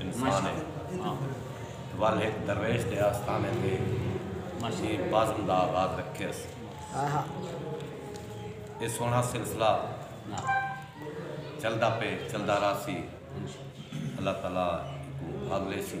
انسان ہے ول ہک درویش دے آستانے تے اسی بزم دا آغاز رکھیس اے سوہنڑا سلسلہ چلدا پے چلدا راہسی اللہ تعالی ایکوں بھاگ لیسی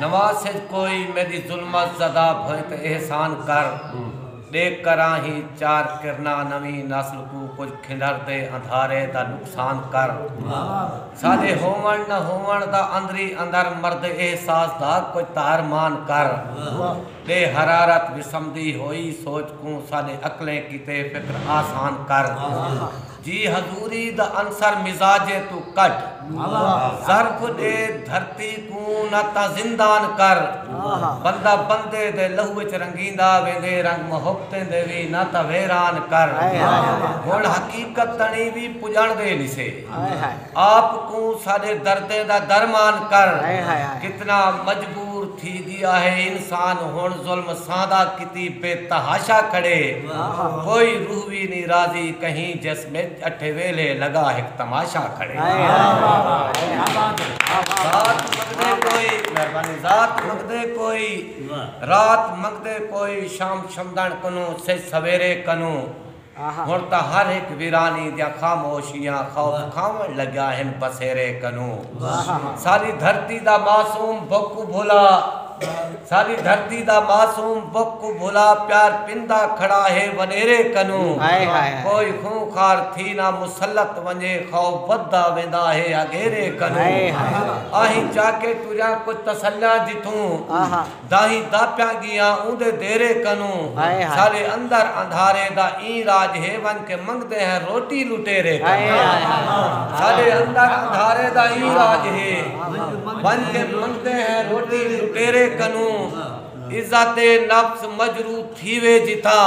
نواز سج کوئی میڈی ظلمت زذاب ہوئے تے احسان کر ڈے کراں ہی چار کرنا نویں نسل کوں کجھ کھنڈر دے اندھارے دا نقصان کر ساڈے ہوون نہ ہوون دا اندری اندر مرد احساس دا کجھ تہر مان کر ڈے حرارت وسمدی ہوئی سوچ کوں ساڈے عقلیں کیتے فکر آسان کر۔ جی حضوری دا عنصر مزاجے توں کڈھ ضرف ڈے دھرتی کوں نہ تاں زندان کر بندہ بندے دے لہو اچ رنگیندا ویندے رنگ محبتیں دے وی نہ تاں ویران کر ہن حقیقت تنیں وی پجنڑ دے نسے۔ آپ کوں ساڈے دردیں دا درمان کر۔ کتنا مجبور تھی گیا ہے انسان ہن ظلم ساندا کیتی بے تحاشا کھڑے کوئی روح وی نی راضی کہیں جسم اچ اٹھے ویلھے لگا ہک تماشا کھڑے۔ ذات منگدے کوئی مہربانی ذات منگدے کوئی رات منگدے کوئی شام شمدان کنوں سج سویرے کنوں۔ ہݨ تاں ہر ہک ویرانی دیاں خاموشیاں خوف کھاوݨ لڳا ہن بسیرے کنوں ساݙی دھرتی دا معصوم بھک کوں بھلا ساݙی دھرتی دا معصوم بھک کوں بھلا پیار پیندا کھڑا ہے وݙیرے کنوں کوئی خوں خار تھی نہ مسلط ونڄے خوف ودھدا ویندا ہے اگھیرے کنوں اہیں چاکے ٹریاں کجھ تسلیاں جتھوں۔ داہیں داپیاں گیاں اوندے دیرے کنوں ساڈے اندر اندھارے دا ایں راج ہے ونج کے منگدے ہیں روٹی لٹیرے کنوں ساڈے اندر اندھارے دا ایں راج ہے ونج کے منگدے ہیں روٹی لٹیرے کنوں عزت نفس مجروح تھیوے جتھاں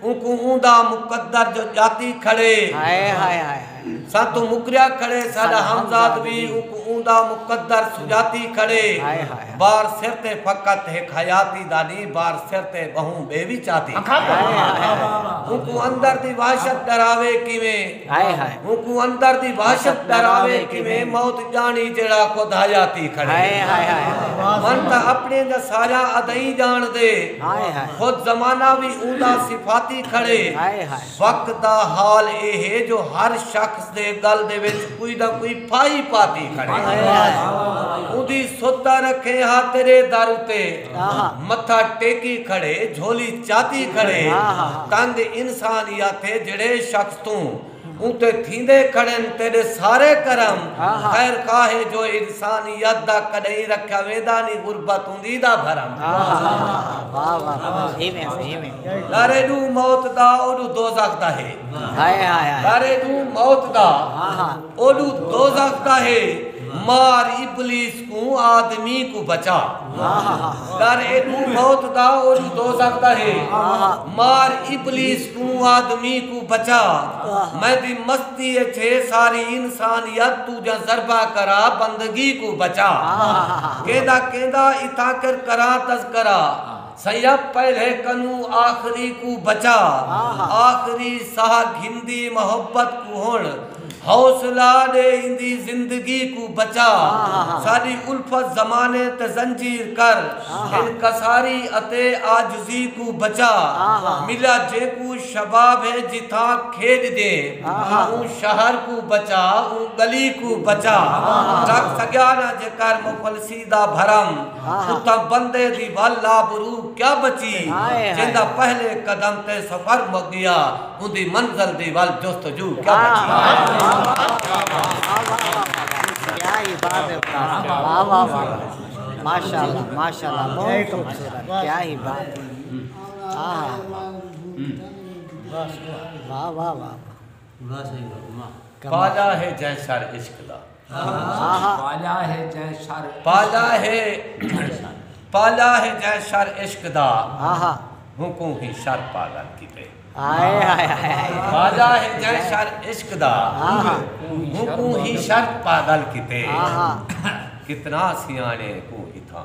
اونکوں اوندا مقدر جو ڄاتی کھڑے ساں توں مکریا کھڑے ساݙا ہمزاد وی اونکوں اوندا مقدر سڄاتی کھڑے بار سر تے فقط ہک حیاتی دا نی بار سر تے ٻہوں ٻئے وی چاتی کھڑے اونکوں اندر دی وحشت ݙراوے کیویں اونکوں اندر دی وحشت ڈراوے کیویں موت جانی جیڑھا خود حیاتی کھڑے من تاں اپنڑیں دا سایہ ادائی جان دے خود زمانہ وی اوندا صفاتی کھڑے وقت دا حال اے ہے جو ہر شخص دے گل دے وچ کوئی نہ کوئی پھائی پاتی کھڑے اوندی سدھ دا رکھیں ہا تیرے در اتے متھا ٹیکی کھڑے جھولی چاتی کھڑے تند انسان یاتے جیڑھے شخص توں اتے تھیندے کھڑن تیڈے سارے کرم خیر خواہ ہے جو انسان یت دا کڈہیں رکھیا ویندا نی غربت ہوندی دا بھرم در ایڈو موت دا اوڈو دوزخ دا ہے در ایڈو موت دا اوڈو دوزخ دا ہے مار ابلیس اوں آدمی کوں بچا کر ایکوں موت دا اولوں دوزخ دا ہے مار ابلیس اوں آدمی کوں بچا میں دی مستی اچ ہے ساری انسانیت توں جاں ضربہ کرا بندگی کوں بچا کیندا کیندا اتھاں کر کراں تذکرہ سیب پہلے کنوں آخری کوں بچا آخری ساہ گھندی محبت کوں ہنڑ حوصلہ ڈے ایندی زندگی کوں بچا ساڈی الفت زمانے تے زنجیر کر انکساری اتے عاجزی کوں بچا ملا جیکوں شباب ہے جتھاں کھیڈ دیں اوں شہر کوں بچا اوں گلی کوں بچا رکھ سگیا نہ جے کر مفلسی دا بھرم۔ اتھاں بندے دی ول آبرو کیا بچی جیندا پہلے قدم تے سفر مک گیا اوندی منزل دی ول جستجو کیا بچی پالا ہے جئیں سر عشق دا۔ پالا ہے جئیں سر پالا ہے جئیں سر عشق دا ہوں کوں ہی سر پاگل کیتے پالا ہے جئیں سر عشق دا ہوں کوں ہی سر پاگل کیتے کتنا سیانے کوں ہی تھاں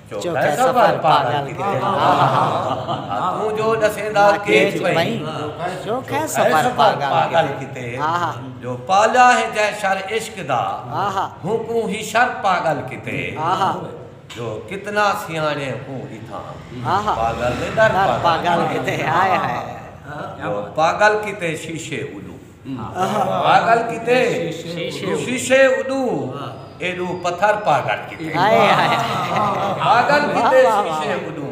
چوکھے سفر پاگل کیتے وے آہا توں جو ڈسیندا کیچ پئی چوکھے سفر پاگل کیتے آہا جو پالیا ہے جے شر عشق دا آہا ہونکوں ہی شر پاگل کیتے آہا جو کتنا سیانے کوں اتھاں آہا پاگل دے در پاگل کیتے ہائے ہائے جو پاگل کیتے شیشے اولوں پاگل کیتے توں شیشے اݙو ایݙو پتھر پاگل کیتے پاگل کیتے شیشے اݙو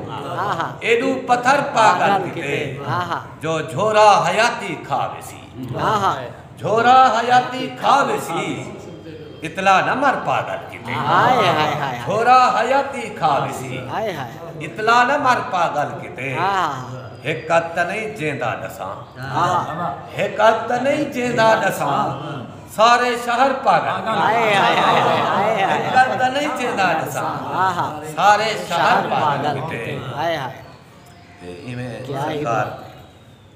ایݙو پتھر پاگل کیتے جو جھورا حیاتی کھا ویسی جھورا حیاتی کھا ویسی اتلا نہ مر پاگل کیتے جھورا حیاتی کھا ویسی اتلا نہ مر پاگل کیتے ہک ات نہیں جیندا ڈساں ہک اکھ تاں نہیں جیندا ڈساں سارے شہر پر ہک اکھ تاں نہیں جیندا ڈساں سارے شہر پر ایویں سرکار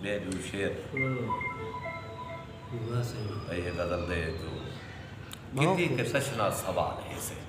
بے جو شیر یہ غزل دے جو کیتی کہ سشنا سوال ہے سے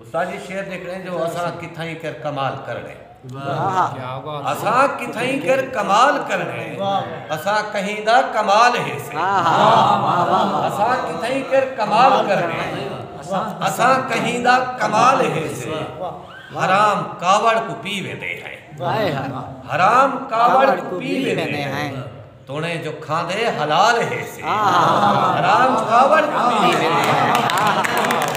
استاد جی شعر دیکھنے جو اساں کتھائیں کر کمال کرنے اساں کتھائیں کر کمال کرنے اساں کہیں دا کمال ہے سے اساں کتھائیں کر کمال کرنے اساں کہیں دا کمال ہے سے حرام کاوڑ کو پی ویندے ہیں حرام کاوڑ کو پی ویندے ہیں تونے جو کھاندے حلال ہیسے حرام کھاون کیتی ہیسے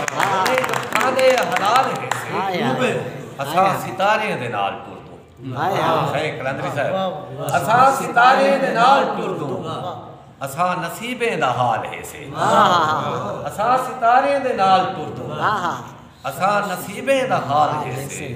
تونے جو کھاندے حلال ہیسے اساں ستاریں دے نال ٹردوں شیخ قلندری صاحب اساں ستاریں دے نال ٹردوں اساں نصیبیں دا حال ہیسے اساں ستاریں دے نال ٹردوں اساں نصیبیں دا حال ہیسے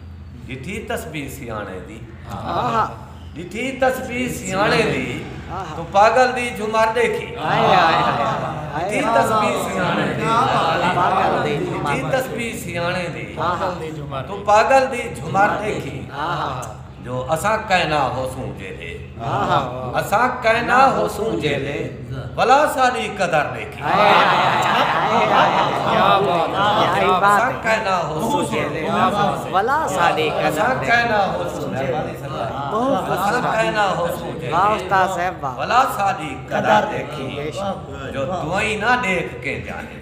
ڈٹھی تسبیح سیاݨے دی۔ ڈٹھی تسبیح سیاݨے دی۔ توں پاگل دی جھمر ڈیکھی۔ ڈٹھی تسبیح سیاݨے دی۔ ڈٹھی تسبیح سیاݨے دی۔ توں پاگل دی جھمر ڈیکھی۔ جو اساں کائنا ہوسوں جیہے۔ اساں کائنا ہوسوں جیلے بلا ساری قدر دیکھی اساں کائنا ہوسوں جیلے بلا ساری قدر دیکھی جو دوئی نہ دیکھ کے جانے